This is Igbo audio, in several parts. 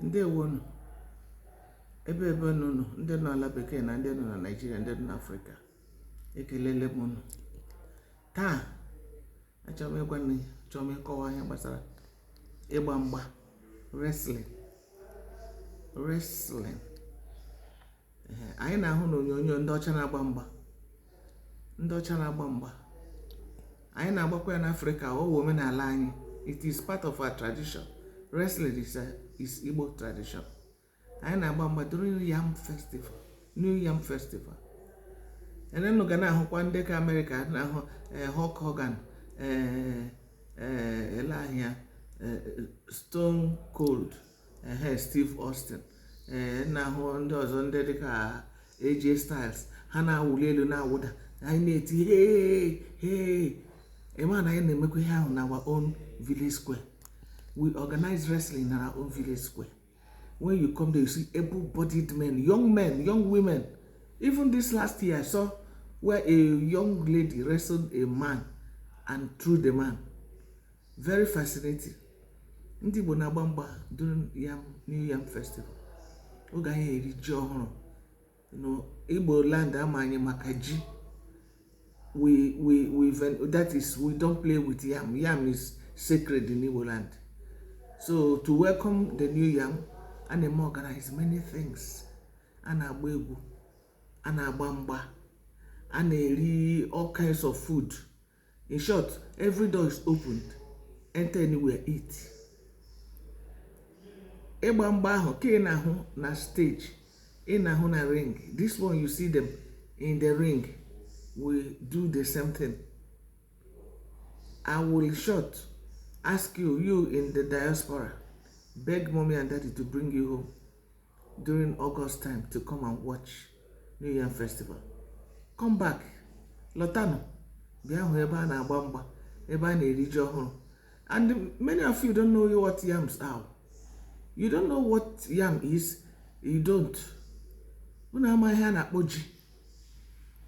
Ndewonu. Ebe ebe unu nọ, ndị nọ ala bekee na ndị nọ na Naịjirịa, ndị nọ n'Afrịka, ekelele m unu. Taa, achọrọ m ịgwa unu, achọrọ m ịkọwa ihe gbasara ịgba mgba wrestling wrestling anyị na-ahụ n'onyonyo ndị ọcha na-agba mgba ndị ọcha na-agba mgba anyị na-agbakwa ya n'afrịka ọ wụ omenala anyị it is part of our tradition wrestling is, a, is igbo tradition anyị na-agba mgba during new yam festival new yam festival eh unu ga na-ahụkwa ndị nke amerịka na-ahụ eh, Hulk Hogan eh, eh, ele ahịa stone cold ehe Steve Austin ee eh, na-ahụ ndị ọzọ ndị dịka AJ Styles ha na-awụli elu na-awụda anyị na-eti hee hee ị ma na anyị na-emekwa ihe ahụ na our own village square we organize wrestling na our own village square when you come there you see able-bodied men young men young women even this last year I saw where a young lady wrestled a man and threw the man Very fascinating. Ndị Igbo na-agba mgba during yam New Yam Festival. Oge anyị eri ji ọhụrụ. Igbo land a ma anyị maka ji. We, we, we, that is, we don't play with yam. Yam is sacred in Igbo land. So to welcome the new yam, a na-eme organize many things. A na-agba egwu, a na-agba mgba, a na-eri all kinds of food. in short every door is opened enter anywhere eat ịgba mgba ahụ ka ị na-ahụ na stage ị na-ahụ na ring this one you see them in the ring we do the same thing i will short ask you you in the diaspora beg mommy and daddy to bring you home during August time to come and watch New Yam Festival. Come back, lọtanụ, bịa hụ ebe a na-agba mgba, ebe a na-eri ji ọhụrụ. And many of you don't know what yams are. You don't know what yam is, you don't. Unu amaghị ihe a na-akpọ ji.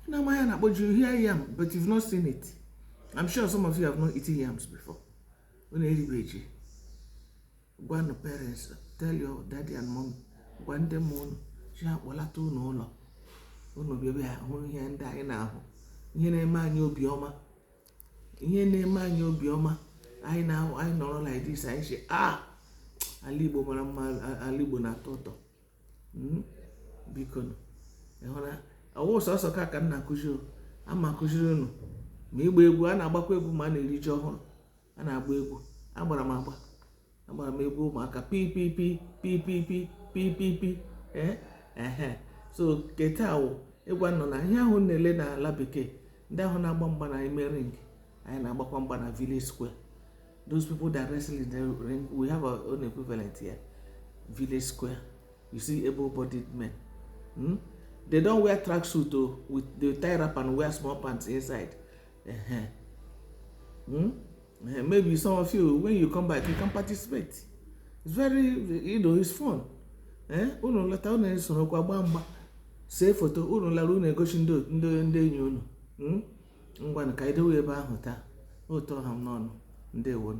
Unu amaghị ihe a na-akpọ ji, you hear yam, but you've not seen it. I'm sure some of you have not eaten yams before. Unu eribeghị ji. gwanụ parents tell your daddy and mommy gwa ndị mụrụ unu sị ha kpọlata unu ụlọ unu bịa bịa hụ ihe ndị anyị na-ahụ ihe na-eme anyị obiọma ihe na-eme anyị obiọma anyị na-ahụ anyị nọrọ like this anyị sị ah ala igbo mara mma ala igbo na-atọ ụtọ hmm? biko ịhụra ọ wụ sọsọ ka ka m na-akụziri ama akụziri unu ma ịgba egwu a na-agbakwa egwu ma a na-eri ji ọhụrụ a na-agba egwu agbara m agba agbara m egwu ụmụaka pipipi pipipi pipipi ee ehe so ke taa wụ ịgwa unu na ihe ahụ na-ele n'ala bekee ndị ahụ na-agba mgba na ime ring anyị na-agbakwa mgba na village square those people that wrestle in the ring we have our own equivalent here village square you see able-bodied men hmm? they don't wear tracksuit o oh, with they tie wrapper and wear small pants inside Uh-huh. Hmm? Uh, maybe some of you, when you come back, you can participate. It's very, you know, it's fun. Eh? Unu lata unu esorokwa gbaa mgba see foto unu lara unu egosi ndị enyi unu hmm? ngwanụ ka anyị dewe ebe ahụ taa otu ọ ha m n'ọnụ ndewonu